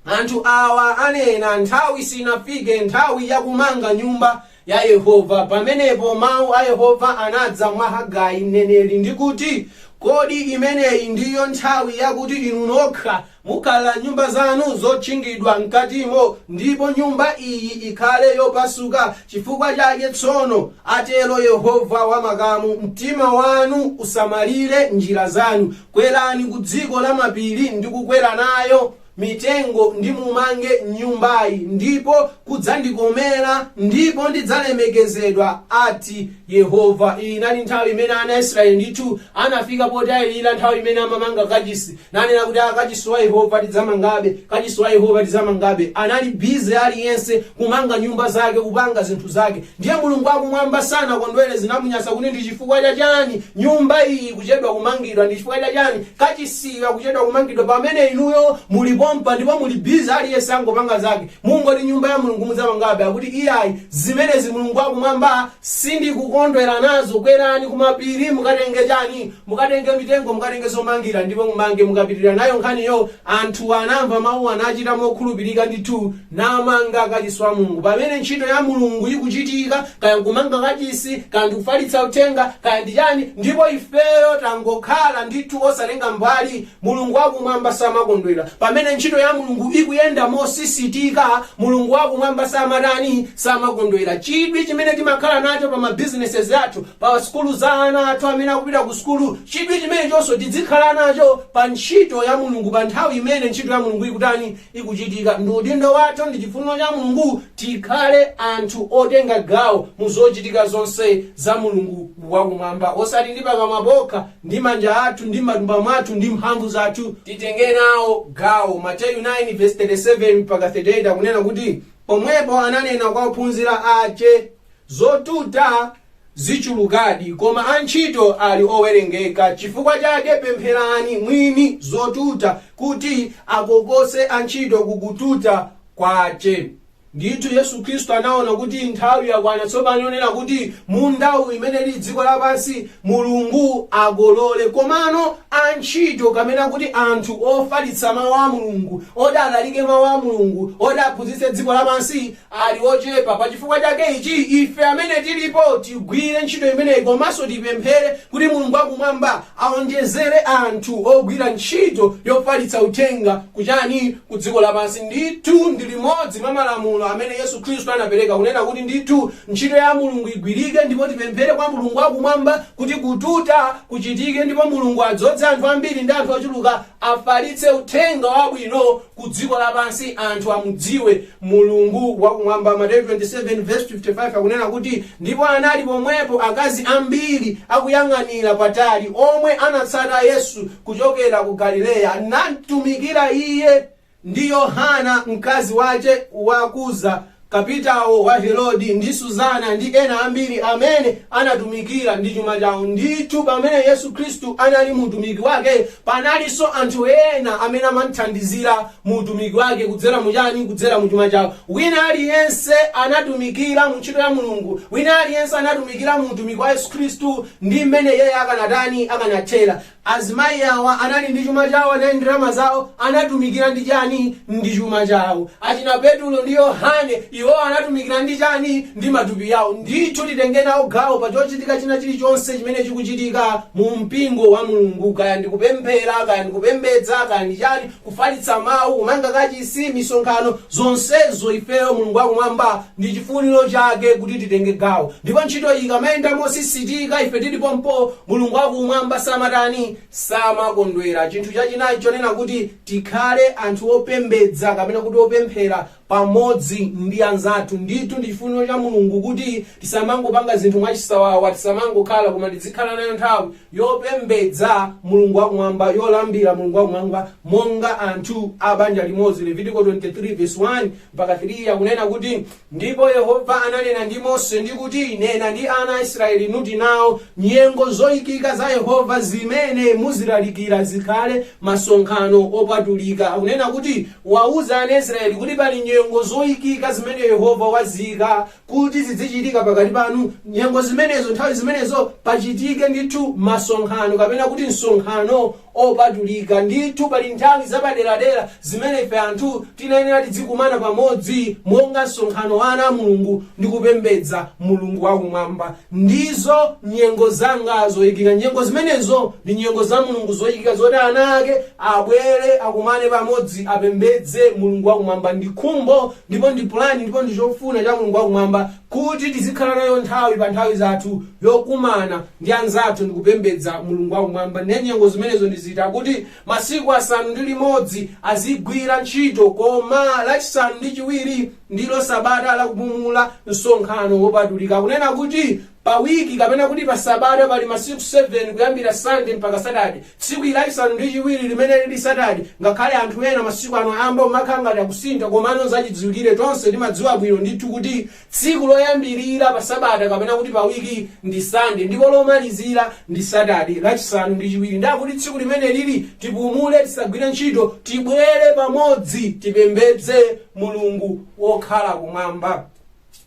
Anthu awa anena, Nthawi sinafike, nthawi yakumanga nyumba, ya Yehova. Pamenepo mau a Yehova anadza mwa Hagai mneneri, ndi kuti, Kodi imeneyi ndiyo nthawi yakuti inu nokha mukhala m'nyumba zanu zotchingidwa m'katimo, ndipo nyumba iyi ikhale yopasuka? Chifukwa chake tsono, atero Yehova wa makamu, Mtima wanu usamalire njira zanu, kwerani ku dziko lamapiri ndi kukwera nayo. mitengo ndimumange nyumbayi, ndipo kudzandikomera, ndipo ndidzalemekezedwa, ati Yehova. Iyi inali nthawi imene ana a Israeli ndithu anafika potayirira nthawi imene amamanga kachisi, nanena kuti a, kachisi wa Yehova tidzamangabe, kachisi wa Yehova tidzamangabe. Anali bize aliyense kumanga nyumba zake, kupanga zinthu zake. Ndiye Mulungu wakumwamba sanakondwere, zinamunyasa kuti ndi chifukwa cha chani nyumba iyi ikuchedwa kumangidwa, ndi chifukwa cha chani Kachisiyu akuchedwa kumangidwa pamene inuyo muli pompa ndipo muli busy aliyense angopanga zake mungoti nyumba ya Mulungu mudzamangabe akuti iyayi zimenezi Mulungu wakumwamba sindikukondwera nazo kwerani kumapiri mukatenge chani mukatenge mitengo mukatenge zomangira ndipo mumange mukapitilira nayo nkhaniyo anthuwa anamva mawuwa nachita mokhulupilika ndithu namanga kachisi wa Mulungu. Pamene ntchito ya Mulungu ikuchitika, kaya nkumanga kachisi, kaya ndikufalitsa uthenga, kaya ndi chani, ndipo ifeyo tangokhala ndithu osatenga mbali, Mulungu wakumwamba samakondwera. Pamene ntchito ya Mulungu ikuyenda mosisitika, Mulungu wakumwamba samatani, samakondwera. Chidwi chimene timakhala nacho pa ma businesses athu, pa sukulu za ana athu amene akupita ku sukulu, chidwi chimenechonso tidzikhala nacho pa ntchito ya Mulungu, pa nthawi imene ntchito ya Mulungu ikutani, ikuchitika. Ndi udindo wathu ndi chifuniro cha Mulungu tikhale anthu otenga gawo mu zochitika zonse za Mulungu wakumwamba, osati ndi pakamwa pokha, ndi manja athu, ndi m'matumba mwathu, ndi mphamvu zathu. Titenge nawo gawo. Mateyu 9:37-38 akunena kuti, Pomwepo ananena kwa ophunzira ache, Zotuta zichulukadi, koma antchito ali owerengeka. Chifukwa chake pempherani Mwini zotuta kuti akokose antchito ku kututa kwache. Ndithu Yesu Khristu anaona kuti nthawi yakwana tsopano yonena kuti mundawu, imene ili dziko lapansi, Mulungu akolole. Komano antchito, kapena kuti anthu ofalitsa Mau a Mulungu, oti alalike Mau a Mulungu, oti aphunzitse dziko lapansi, ali ochepa. Pa chifukwa chake ichi, ife amene tilipo tigwire ntchito imeneyi komanso tipemphere kuti Mulungu wa Kumwamba aonjezere anthu ogwira ntchito yofalitsa uthenga ku chani? Ku dziko lapansi. Ndithu ndi limodzi mwa malamulo amene Yesu Khristu anapereka kunena kuti ndithu ntchito ya Mulungu igwirike ndipo tipemphere kwa Mulungu wa Kumwamba kuti kututa kuchitike ndipo Mulungu adzodze anthu ambiri ndi anthu ochuluka afalitse uthenga wabwino ku dziko lapansi anthu amudziwe Mulungu wakumwamba. Mateyu 27:55 akunena kuti, ndipo anali pomwepo akazi ambiri akuyang'anira patali, omwe anatsata Yesu kuchokera ku Galileya, namtumikira Iye, ndi Yohana mkazi wace wa Kuza, kapitawo wa Herodi, ndi Suzana, ndi ena ambiri amene anatumikira ndi chuma chawo. Ndithu pamene Yesu Khristu anali mu utumiki wake, panalinso anthu ena amene amamthandizira mu utumiki wake kudzera mu chani? Kudzera mu chuma chawo. Wina aliyense anatumikira mu ntchito ya Mulungu, wina aliyense anatumikira mu utumiki wa Yesu Khristu ndi mmene yeye akanatani, akanathera. Azimayi awa anali ndi chuma chawo, anali ndi ndalama zawo, anatumikira ndi chani? Ndi chuma chawo. Achina Petulo ndi Yohane, iwo anatumikira ndi chani? Ndi matupi yawo. Ndithu titenge nawo gawo pa chochitika china chili chonse chimene chikuchitika mu mpingo wa Mulungu, kaya ndi kupemphera, kaya ndi kupembedza, kaya ndi chani, kufalitsa Mawu, kumanga kachisi, misonkhano, zonsezo, ifeyo, Mulungu wa Kumwamba, ndi chifuniro Chake kuti titenge gawo. Ndipo ntchito iyi ikamayenda mosisitika, ife tili pompo, Mulungu wa Kumwamba samatani, samakondwera. Chinthu chachinayi chonena kuti tikhale anthu opembedza kapena kuti opemphera pamodzi ndi anzathu ndithu ndi chifuniro cha mulungu kuti tisamangopanga zinthu mwachisawawa tisamangokhala koma tidzikhala nayo nthawi yopembedza mulungu wakumwamba yolambira mulungu wakumwamba monga anthu a banja limodzi levitiko 23 verse 1 mpaka 3 akunena kuti ndipo yehova ananena ndi mose ndi kuti nena ndi ana a israeli nuti nawo nyengo zoyikika za yehova zimene muzilalikira zikhale masonkhano opatulika akunena kuti Wauza ana a Israeli kuti, Pali nyengo zoikika zimene Yehova waziika kuti zidzichitika pakati panu. Nyengo zimenezo, nthawi zimenezo, pachitike ndithu masonkhano, kapena kuti msonkhano opatulika. Ndithu pali nthawi zapaderadera zimene ife anthu tinayenera tidzikumana pamodzi monga msonkhano wa ana a Mulungu ndi kupembedza Mulungu wakumwamba. Ndizo nyengo zanga zoikika. Nyengo zimenezo ndi nyengo za Mulungu zoikika zoti ana ake abwere, akumane pamodzi, apembedze Mulungu wakumwamba. Ndi khumbo ndipo ndi pulani ndipo ndi chofuna cha Mulungu wakumwamba kuti tizikhala nayo nthawi pa nthawi zathu yokumana ndi anzathu ndi kupembedza Mulungu wakumwamba. Ne nyengo zimenezo ndi ziti? Akuti masiku asanu ndi limodzi azigwira ntchito, koma lachisanu ndi chiwiri ndilo sabata la kupumula msonkhano wopatulika kunena kuti pa wiki kapena kuti pa sabata pali masiku 7 kuyambira sande mpaka satade tsiku lachisanu ndi chiwiri limene lili satade ngakhale anthu ena masiku ano ayamba kumakhala ngati akusintha komano zachidziwikire tonse timadziwa bwino ndithu kuti tsiku loyambirira pa sabata kapena kuti pa wiki ndi sande ndipo lomalizira ndi satade lachisanu ndi chiwiri ndiye kuti tsiku limene lili tipumule tisagwire ntchito tibwere pamodzi tipembedze Mulungu wokhala kumwamba.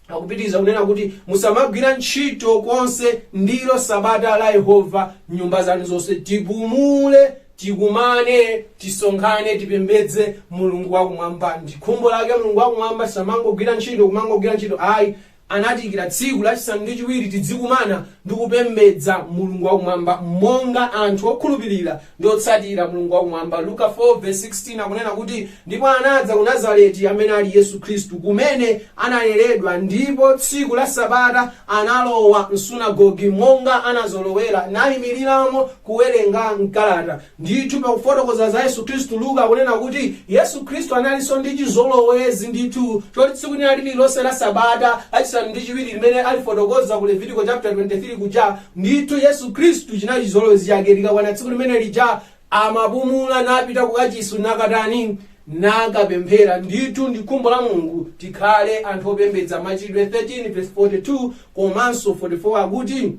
Akupitiriza kunena kuti, Musamagwira ntchito konse, ndilo sabata la Yehova m'nyumba zanu zonse. Tipumule, tikumane, tisonkhane, tipembedze Mulungu wakumwamba. Ndi khumbo lake Mulungu wakumwamba, tisamangogwira ntchito, kumangogwira ntchito ayi. Anatiikira tsiku lachisanu ndi chiwiri tidzikumana ndi kupembedza Mulungu wa Kumwamba monga anthu okhulupirira ndi otsatira Mulungu wa Kumwamba. Luka 4 vs 16 akunena kuti, Ndipo anadza ku Nazareti, amene ali Yesu Khristu, kumene analeredwa, ndipo tsiku la sabata analowa m'sunagoge, monga anazolowera, naimiriramo kuwerenga m'kalata. Ndithu, pakufotokoza za Yesu Kristu, Luka akunena kuti, Yesu Kristu analinso ndi chizolowezi, ndithu, choti tsiku lina lililonse la sabata, lachisanu ndi chiwiri limene alifotokoza ku Levitiko chaputala 23 kuja, ndithu, Yesu Kristu chinali chizolowezi chake, likakwana tsiku limene lija, amapumula napita kukachisi nakatani? nakapemphera. Ndithu, ndi khumbo la Mulungu tikhale anthu opembedza. Machitidwe 13 vesi 42 komanso 44 akuti.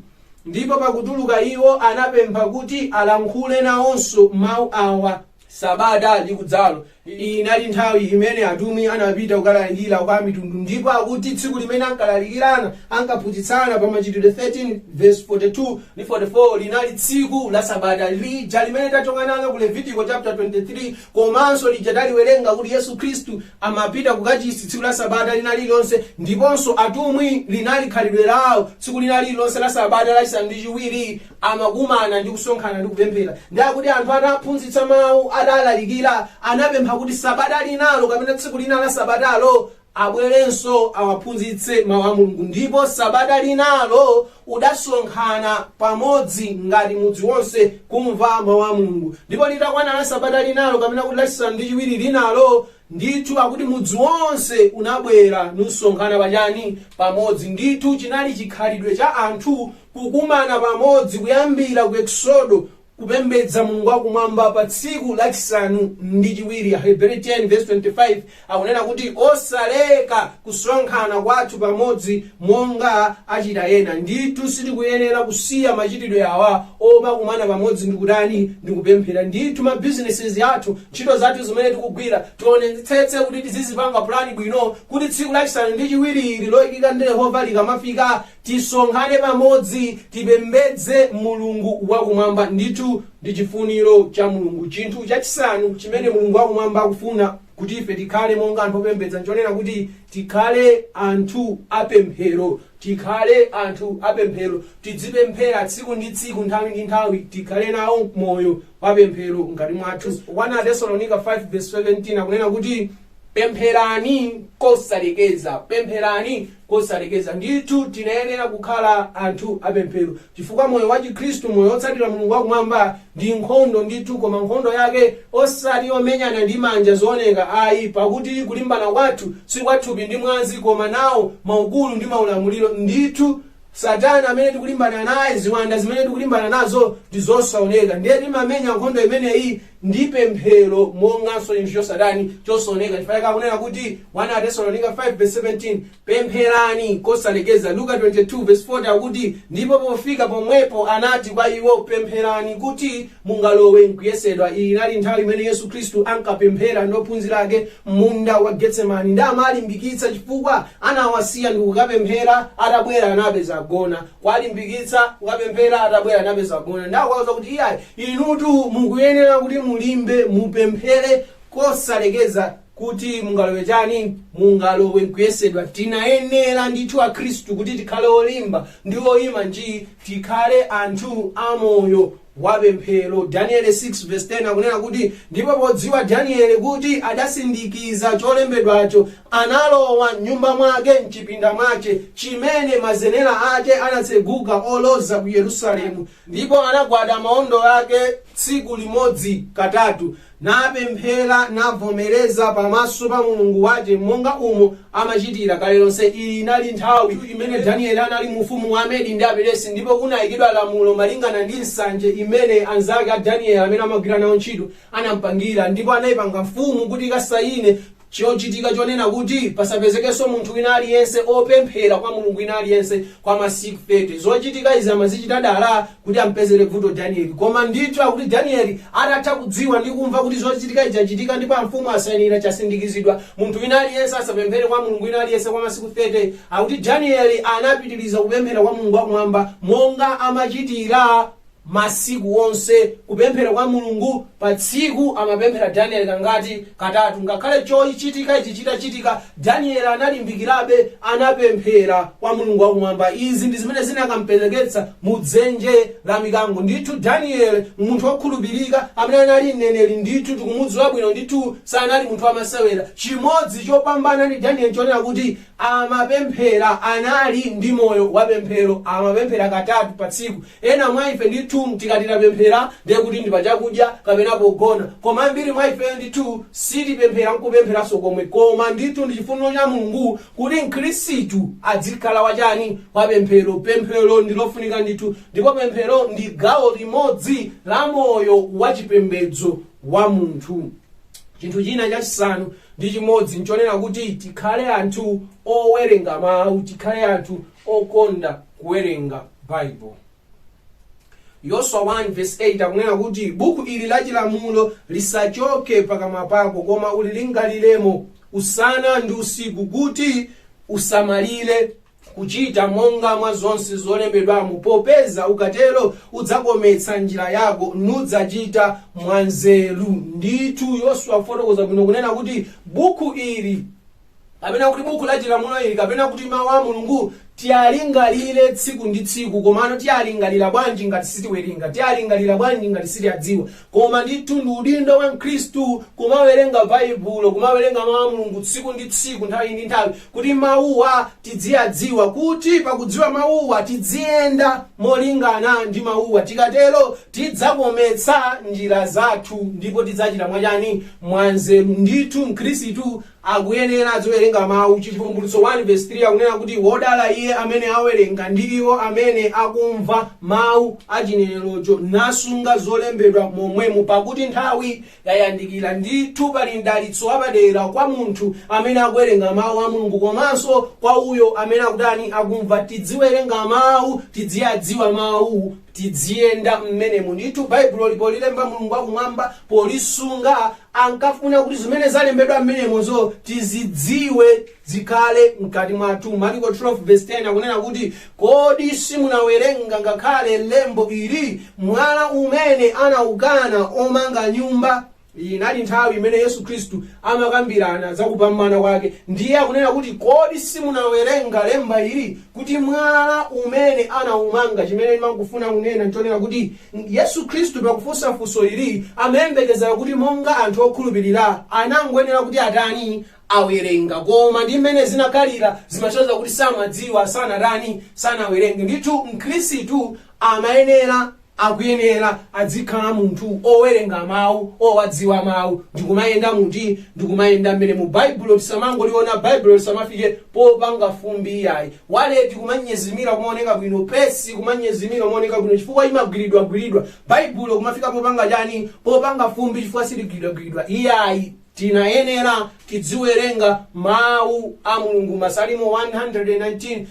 Ndipo pakutuluka iwo, anapempha kuti alankhule nawonso mawu awa. Sabata likudzalo. Inali nthawi imene atumwi anapita kukalalikira kwa amitundu ndipo akuti tsiku limene ankalalikirana, ankaphunzitsana pa Machitidwe 13 vesi 42 ndi 44 linali tsiku la Sabata lija limene tachoka nalo lija ku Levitiko chaputala 23 Komanso lija taliwerenga kuti Yesu Khristu amapita kukachisi tsiku la Sabata lina lililonse ndiponso atumwi linali khalidwe lawo tsiku lina lililonse la Sabata lachisanu ndi chiwiri amakumana ndi kusonkhana ndi kupemphera. Ndi akuti anthu ataphunzitsa mau, atalalikira, anapempha kuti Sabata linalo kapena tsiku lina la Sabatalo abwerenso awaphunzitse mau a Mulungu. Ndipo sabata linalo udasonkhana pamodzi ngati mudzi wonse kumva mau a Mulungu. Ndipo litakwana la sabata linalo, kapena kuti lachisanu ndi chiwiri linalo, ndithu akuti mudzi wonse unabwera nusonkhana pachani? Pamodzi. Ndithu chinali chikhalidwe cha anthu kukumana pamodzi kuyambira ku Eksodo kupembedza Mulungu wa kumwamba pa tsiku lachisanu ndi chiwiri. Aheberi 10:25 akunena kuti osaleka kusonkhana kwathu pamodzi monga achita ena. Ndithu sitikuyenera kusiya machitidwe awa omakumana pamodzi ndi kutani? Ndi kupemphera. Ndithu ma businesses athu, ntchito zathu zimene tikugwira, tionetsetse kuti tizizipanga plan bwino kuti tsiku lachisanu ndi chiwiri ili loikika ndi Yehova likamafika, Tisonkhane pamodzi, tipembedze Mulungu wa Kumwamba. Ndithu ndi chifuniro cha Mulungu. Chinthu chachisanu chimene Mulungu wa Kumwamba akufuna kuti ife tikhale monga anthu opembedza nchonena kuti tikhale anthu apemphero. Tikhale anthu apemphero, tidzipemphera tsiku ndi tsiku, nthawi ndi nthawi, tikhale nawo moyo wa pemphero mkati mwathu. 1 Atesalonika 5 vesi 17 akunena kuti, Pempherani kosalekeza. Pempherani kosalekeza. Ndithu, tinayenera kukhala anthu apemphero, chifukwa moyo wa Chikhristu, moyo wotsatira Mulungu wa Kumwamba, ndi nkhondo ndithu, koma nkhondo yake osati yomenyana ndi manja zooneka ayi, pakuti kulimbana kwathu si kwa thupi ndi mwazi, koma nawo maukulu ndi maulamuliro, ndithu, Satana amene tikulimbana naye, ziwanda zimene tikulimbana nazo ndi zosaoneka. Ndiye timamenya nkhondo imeneyi ndi pemphero monganso chinthu chosatani chosaoneka chifukwa chake akunena kuti 1 atesalonika 5 verse 17 pempherani kosalekeza luka 22 verse 40 akuti ndipo pofika pomwepo anati kwa iwo pempherani kuti mungalowe nkuyesedwa iyi inali nthawi imene yesu khristu ankapemphera ndi ophunzira ake munda wa getsemani nde amawalimbikitsa chifukwa anawasiya ndi kukapemphera atabwera anapeza agona kuwalimbikitsa, kukapemphera, atabwera anapeza akugona, ndikuwauza kuti iyayi, inutu mukuyenera kuti mulimbe, mupemphere kosalekeza kuti mungalowe chani, mungalowe nkuyesedwa. Tinayenera ndithu Akhristu kuti tikhale olimba ndi oyima njii, tikhale anthu amoyo wa pemphero. Daniele 6 vs 10 akunena kuti, Ndipo podziwa Daniele kuti adasindikiza cholembedwacho, analowa m'nyumba mwake m'chipinda mwache, chimene mazenera ake anatseguka oloza ku Yerusalemu, ndipo anagwada maondo ake tsiku limodzi katatu, napemphera, navomereza pamaso pa Mulungu wace, monga umo amacitira kale lonse. Iyi inali nthawi imene Danieli anali mu ufumu wa Amedi ndi Aperesi, ndipo kunaikidwa lamulo malingana ndi nsanje imene anzake a Danieli amene amagwira nao nchito anampangira, ndipo anaipanga mfumu kuti ikasaine. Chochitika chonena kuti pasapezekenso munthu wina aliyense opemphera kwa mulungu wina aliyense kwa masiku 30. Zochitika izi amazichita dala kuti ampezere bvuto Danieli. Koma ndithu akuti Danieli atatha kudziwa ndi kumva kuti chochitika ichi chachitika ndipo amfumu asainira chasindikizidwa munthu wina aliyense asapemphere kwa mulungu wina aliyense kwa masiku 30, akuti Danieli anapitiriza kupemphera kwa Mulungu wakumwamba monga amachitira. masiku onse kupemphera kwa mulungu pa tsiku amapemphera daniel kangati katatu ngakhale chochitika ichi chitachitika daniel analimbikirabe anapemphera kwa mulungu wakumwamba izi ndi zimene zinakampereketsa mu dzenje la mikango ndithu daniel munthu wokhulupirika amene anali mneneri ndithu tikumudziwa bwino ndithu sanali munthu wamasewera chimodzi chopambana ndi daniel chonena kuti amapemphera anali ndi moyo wapemphero amapemphera katatu pa tsiku Ena mwa ife ndithu tikati tapemphera ndiye kuti ndi pa chakudya kapena pogona, koma ambiri mwa ife ndithu sitipemphera nkupempheranso komwe koma ndithu ndi chifuniro cha Mulungu kuti mkhristu adzikhala wa chani? Wa pemphero. Pemphero ndi lofunika ndithu ndipo pemphero ndi gawo limodzi la moyo wa chipembedzo wa munthu. Chinthu china chachisanu ndi chimodzi nchonena kuti tikhale anthu owerenga mau, tikhale anthu okonda kuwerenga Baibo. Yoswa 1 verse 8 akunena kuti buku ili la chilamulo lisachoke pakamwa pako koma ulilingaliremo usana ndi usiku kuti usamalire kuchita monga mwa zonse zolembedwamo popeza ukatero udzakometsa njira yako nudzachita mwanzeru ndithu yoswa afotokoza bwino kunena kuti buku ili kapena kuti buku la chilamulo ili kapena kuti mawu a mulungu tiyalingalire tsiku ndi tsiku komano tiyalingalira bwanji ngati sitiwerenga tiyalingalira bwanji ngati sitiyadziwa koma ndithu ndi udindo wa mkhristu kumawerenga baibulo kumawerenga mawu a mulungu tsiku ndi tsiku nthawi ndi nthawi kuti mawuwa tidziyadziwa kuti pakudziwa mawuwa tidziyenda molingana ndi mawuwa tikatero tidzakometsa njira zathu ndipo tidzachita mwachani mwanzeru ndithu mkhristu akuyenera adziwerenga Mawu. Chivumbulutso 1 vesi 3 akunena kuti, Wodala iye amene awerenga, ndi iwo amene akumva mawu a chinenerocho, nasunga zolembedwa momwemo, pakuti nthawi yayandikira. Ndithu pali mdalitso wapadera kwa munthu amene akuwerenga Mawu a Mulungu komanso kwa uyo amene akutani, akumva. Tidziwerenga Mawu, tidziyadziwa Mawu. Tidziyenda mmenemu. Ndithu Baibuloli polilemba Mulungu wakumwamba polisunga ankafuna kuti zimene zalembedwa mmenemozo tizidziwe, zikhale mkati mwathu. Maliko 12 vs 10 akunena kuti, Kodi simunawerenga ngakhale lembo ili, Mwala umene anaukana omanga nyumba. Inali nthawi imene Yesu Khristu amakambirana za kupambana kwake. Ndiye akunena kuti, Kodi simunawerenga lemba ili, kuti mwala umene anaumanga? Chimene ndimangofuna kunena nchonena kuti Yesu Khristu pakufunsa funso ili amayembekezera kuti monga anthu okhulupirira anangoyenera kuti atani? awerenga. Koma ndi mmene zinakhalira zimasonyeza kuti samadziwa, sanatani? sanawerenge. Ndithu Mkhristu amayenera. Akuyenera adzikhala munthu owerenga mau, owadziwa mau, ndikumayenda mu ti ndikumayenda mmenemo. Baibulo tisamangoliona, Baibulo lisamafike popanga fumbi iyayi. Waleti kumanyezimira, kumaoneka bwino, pesi kumanyezimira, kumaoneka bwino chifukwa imagwiridwagwiridwa. Baibulo kumafika popanga chani? Popanga fumbi chifukwa siligwiridwagwiridwa iyayi. Tinayenera tidziwerenga Mau a Mulungu. Masalimo 119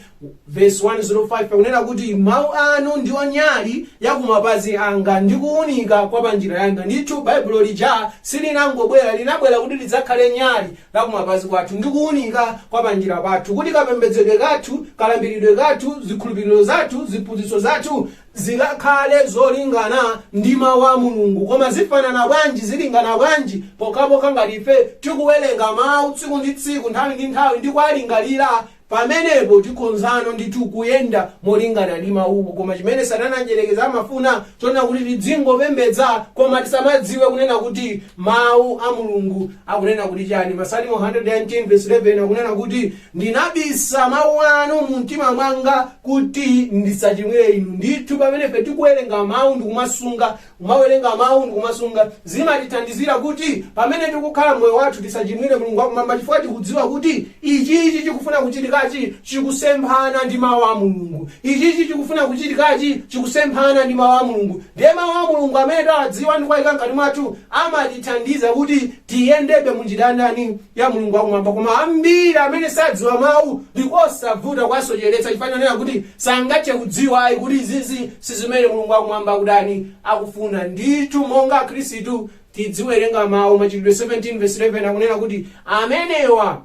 vesi 105 akunena kuti, Mau anu ndiwo nyali ya kumapazi anga ndi kuunika kwa pa njira yanga. Ndithu, Baibulo lija silinangobwera, linabwera kuti lidzakhale nyali la kumapazi kwathu ndi kuunika kwa pa njira pathu, kuti kapembedzedwe kathu, kalambiridwe kathu, zikhulupiriro zathu, ziphunzitso zathu zikakhale zolingana ndi Mawu a Mulungu. Koma zifanana bwanji, zilingana bwanji, pokhapokha ngati ife tikuwerenga Mawu tsiku ndi tsiku, nthawi ndi nthawi, ndi kuwalingalira? Pamenepo tikhonzano ndithu kuyenda molingana ndi Mawuwo. Koma chimene Satana Mdyerekezi amafuna, chonena kuti tidzingopembedza, koma tisamadziwe kunena kuti Mawu a Mulungu akunena kuti chani. Masalimo 119 vesi 11 akunena kuti. Ndinabisa Mawu Anu mu mtima mwanga kuti ndisachimwire Inu. Ndithu, pamene ife tikuwerenga Mawu ndi kumasunga, kumawerenga Mawu ndi kumasunga, zimatithandizira kuti pamene tikukhala moyo wathu tisachimwire Mulungu wakumwamba chifukwa tikudziwa kuti ichichi chikufuna kuchitikachi chikusemphana ndi Mawu a Mulungu. Ichichi chikufuna kuchitikachi chikusemphana ndi Mawu a Mulungu. Ndiye Mawu a Mulungu amene tawadziwa ndi kuwayika mkati mwathu amatithandiza kuti Tiyendebe mu njira ya ndani? Ya Mulungu wakumwamba. Koma ambiri amene sadziwa mawu ndi kosavuta kuwasocheretsa chifukwa chonena kuti sangathe kudziwa ayi kuti izizi si zimene Mulungu wakumwamba akutani akufuna. Ndithu monga Akhristu tidziwerenga mawu. Machitidwe 17 verse 11 akunena kuti amenewa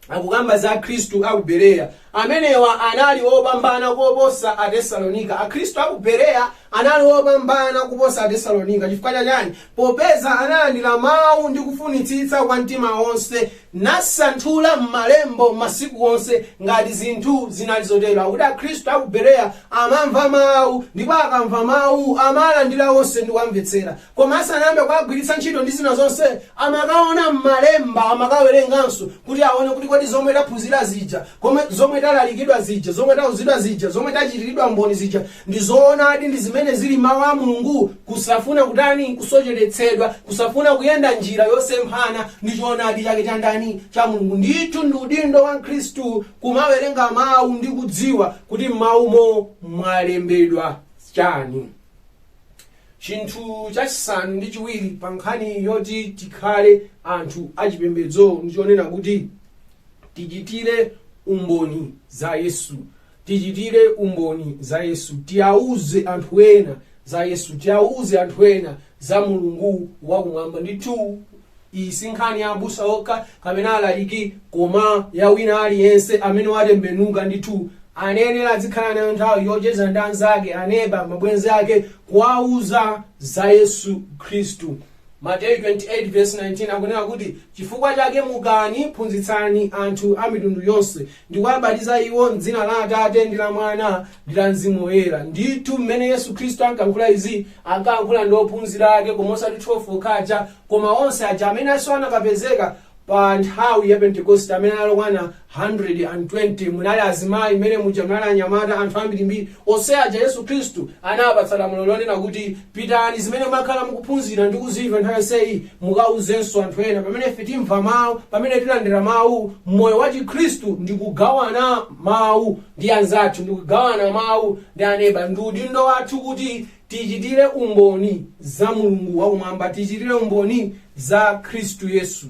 akukamba za akhristu a ku bereya amenewa anali opambana koposa atesalonika akhristu a ku bereya anali opambana kuposa atesalonika chifukwa chachani popeza analandira mawu ndi kufunitsitsa kwa mtima wonse nasanthula m'malembo masiku onse ngati zinthu zinali zotero akuti akhristu a ku bereya amamva mawu ndipo akamva mawu amalandira onse ndi kuwamvetsera Koma asanayambe kuwagwiritsa ntchito ndi zina zonse, amakaona m'malemba, amakawerenganso kuti aone kuti kodi zomwe taphunzira zija, komwe, zomwe talalikidwa zija, zomwe tauzidwa zija, zomwe tachitiridwa umboni zija, ndi zoonadi, ndi zimene zili m'Mau a Mulungu, kusafuna kutani, kusocheretsedwa, kusafuna kuyenda njira yosemphana ndi choonadi chake cha ndani, cha Mulungu. Ndithu ndi udindo wa Mkhristu kumawerenga Mau ndi kudziwa kuti m'Maumo mwalembedwa chani. Chinthu chachisanu ndi chiwiri pa nkhani yoti tikhale anthu achipembedzo ndi chonena kuti tichitire umboni za Yesu. Tichitire umboni za Yesu. Tiyauze anthu ena za Yesu. Tiyauze anthu ena za Mulungu wakumwamba. Ndithu iyi si nkhani ya abusa okha kapena alaliki koma ya wina aliyense amene watembenuka ndithu ayenera adzikhala nayo nthawi yocheza ndi anzake aneba mabwenzi ake kuwauza za yesu khristu mateyu 28 verse 19 akunena kuti chifukwa chake mukani phunzitsani anthu a mitundu yonse ndi kuwabatiza iwo m'dzina la Atate, ndi la Mwana, ndi la Mzimu Woyera. Ndithu, mmene Yesu Khristu ankalankhula izi, ankalankhula ndi ophunzira ake, koma osati 12 okha aja, koma onse aja amenenso anakapezeka pa nthawi ya Pentekoste, amene anali okwana 120. Munali azimayi mmene muja, munali anyamata, anthu ambirimbiri, Onse aja Yesu Khristu anawapatsa lamulo lonena kuti, Pitani, zimene mwakhala mukuphunzira ndi kuzimva nthawi yonseyi, mukauzenso anthu ena. Pamene ife timva mawu, pamene tilandira mawu, moyo wa Chikhristu ndi kugawana mawu ndi anzathu, ndi kugawana mawu ndi aneba. Ndi udindo wathu kuti tichitire umboni za Mulungu wakumwamba, tichitire umboni za Khristu Yesu.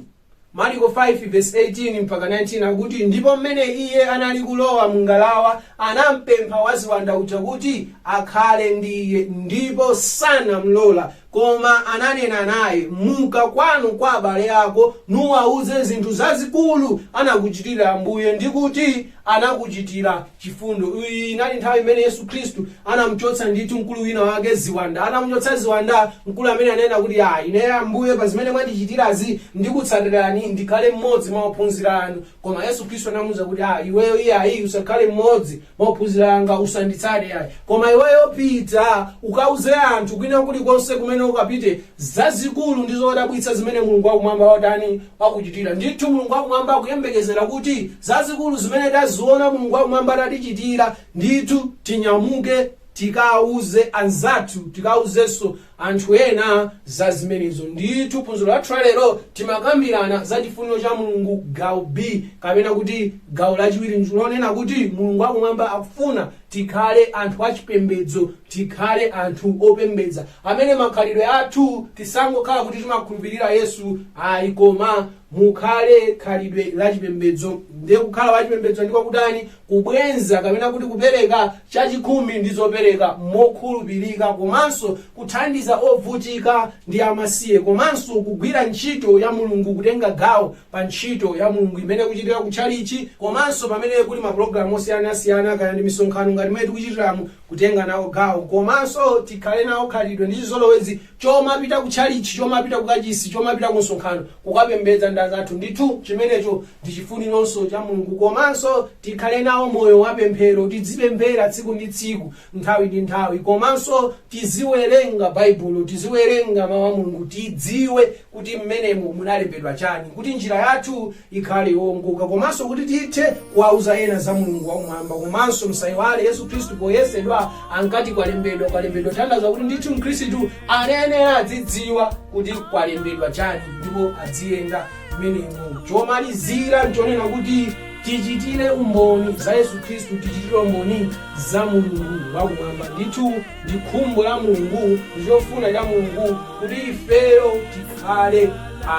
mariko 5 verse 18 mpaka 19 akuti ndipo mmene iye anali kulowa mungalawa anampempha waziwanda uja kuti akhale ndi iye ndipo sanamlola koma ananena naye muka kwanu kwa abale ako nuwauze zinthu zazikulu anakuchitira ambuye ndi kuti anakuchitira chifundo. Iyi inali nthawi imene Yesu Khristu anamuchotsa ndithu mkulu wina wake ziwanda. Anamuchotsa ziwanda, mkulu amene ananena kuti, "Ah, ine Ambuye pa zimene mwandichitirazi ndikutsatirani ndikhale mmodzi mwa ophunzira anu." Koma Yesu Khristu anamuwuza kuti, "Ah, iweyo iyayi usakhale mmodzi mwa ophunzira anga, usanditsate ayi. Koma iweyo pita ukauze anthu kwina kulikonse kumene ukapite zazikulu ndi zodabwitsa zimene Mulungu wa Kumwamba watani? wakuchitira. Ndithu Mulungu wa Kumwamba akuyembekezera kuti zazikulu zimene taziona Mulungu wa Kumwamba atatichitira, ndithu tinyamuke tikauze anzathu, tikauzenso anthu ena za zimenezo. Ndithu phunziro lathu la lero timakambirana za chifuniro cha Mulungu gawo B, kapena kuti gawo lachiwiri ndi lonena kuti Mulungu wa Kumwamba akufuna Tikhale anthu achipembedzo, tikhale anthu opembedza amene makhalidwe athu tisangokhala kuti timakhulupirira Yesu ayi koma mukhale khalidwe la chipembedzo. Ndiye kukhala wachipembedzo ndiko kutani? Kubwenza kapena kuti kupereka chachikhumi ndi zopereka mokhulupirika komanso kuthandiza ovutika ndi amasiye komanso kugwira ntchito ya Mulungu kutenga gawo pa ntchito ya Mulungu imene ikuchitika ku tchalitchi komanso pamene kuli mapulogalamu osiyanasiyana kaya ndi misonkhano ngati imene tikuchitiramu, kutenga nawo gawo komanso tikhale nawo khalidwe ndi chizolowezi chomapita ku tchalitchi, chomapita ku kachisi, chomapita ku msonkhano kukapembedza ndi anzathu. Ndithu chimenecho ndi chifunironso cha Mulungu. Komanso tikhale nawo moyo wa pemphero, tidzipemphera tsiku ndi tsiku, nthawi ndi nthawi komanso tiziwerenga Baibulo, tiziwerenga Mawu a Mulungu, tidziwe kuti mmenemo munalembedwa chani, kuti njira yathu ikhale yoongoka komanso kuti tithe kuwauza ena za Mulungu wakumwamba. Komanso msaiwale Yesu Khristu poyesedwa ankati kwalembedwa, kwalembedwa kutanthauza kuti ndithu mkhristu anayenera adzidziwa kuti kwalembedwa chani ndipo adziyenda mmenemo. Chomalizira nchonena kuti tichitire umboni za Yesu Khristu, tichitire umboni za Mulungu wakumwamba ndithu. Ndi khumbo la Mulungu, ndi chofuna cha Mulungu kuti ifeyo tikhale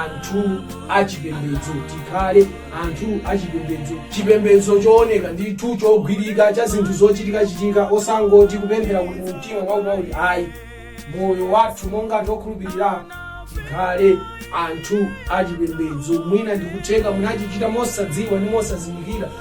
anthu achipembedzo, tikhale anthu achipembedzo, chipembedzo chooneka ndithu, chogwirika, cha zinthu zochitikachitika, osangoti kupemphera kuli mu mtima mwakuti ayi, moyo wathu monga anthu okhulupirira tikhale anthu achipembedzo. Mwina ndikutheka munachichita mosadziwa ndi mosazindikira,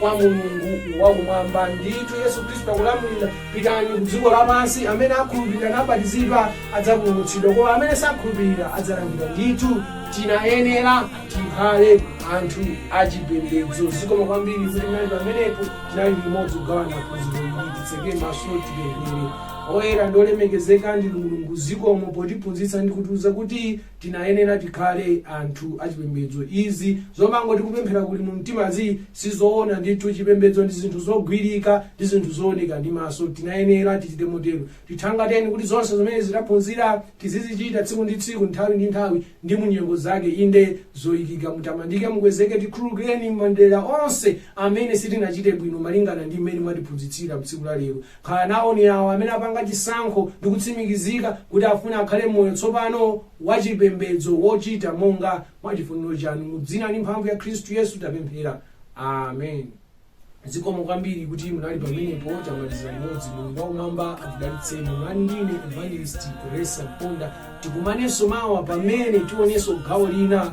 kwa Mulungu wakumwamba. Ndithu Yesu Khristu akulamulira, pitani ku dziko lapansi. Amene akhulupirira nabatizidwa adzapulumutsidwa, koma amene sakhulupirira adzalangidwa. Ndithu tinayenera tikhale anthu achipembedzo. Zikomo kwambiri kuti munali pamenepo, tinali limodzi kugawana phunziro ili. Titseke maso tipemphere. Oyera ndi olemekezeka ndinu Mulungu, zikomo potiphunzitsa ndi kutiuza kuti tinayenera tikhale anthu achipembedzo izi zomangoti kupemphera kuli mu mtimazi sizoona ndithu chipembedzo ndi zinthu zogwirika ndi zinthu zooneka ndi maso tinayenera tichite motero tithangateni kuti zonse zimene taphunzira tizizichita tsiku ndi tsiku nthawi ndi nthawi ndi munyengo zake inde zoyikika mutamandike mukwezeke tikhululukireni m'madera onse amene sitinachite bwino malingana ndi mmene mwatiphunzitsira mtsiku la lero Khala nawoni awo amene apanga chisankho ndi kutsimikizika kuti afuna akhale moyo tsopano wachipembedzo wochita monga mwa chifuniro chanu. Mu dzina ndi mphamvu ya Khristu Yesu tapemphera. Amen. Zikomo kwambiri kuti munali pamenepo. Tamalizira limodzi. Mulungu wakumwamba akudalitseni. Munali ndi ine Evangelist Grace Mponda. Tikumanenso mawa pamene tionenso gawo lina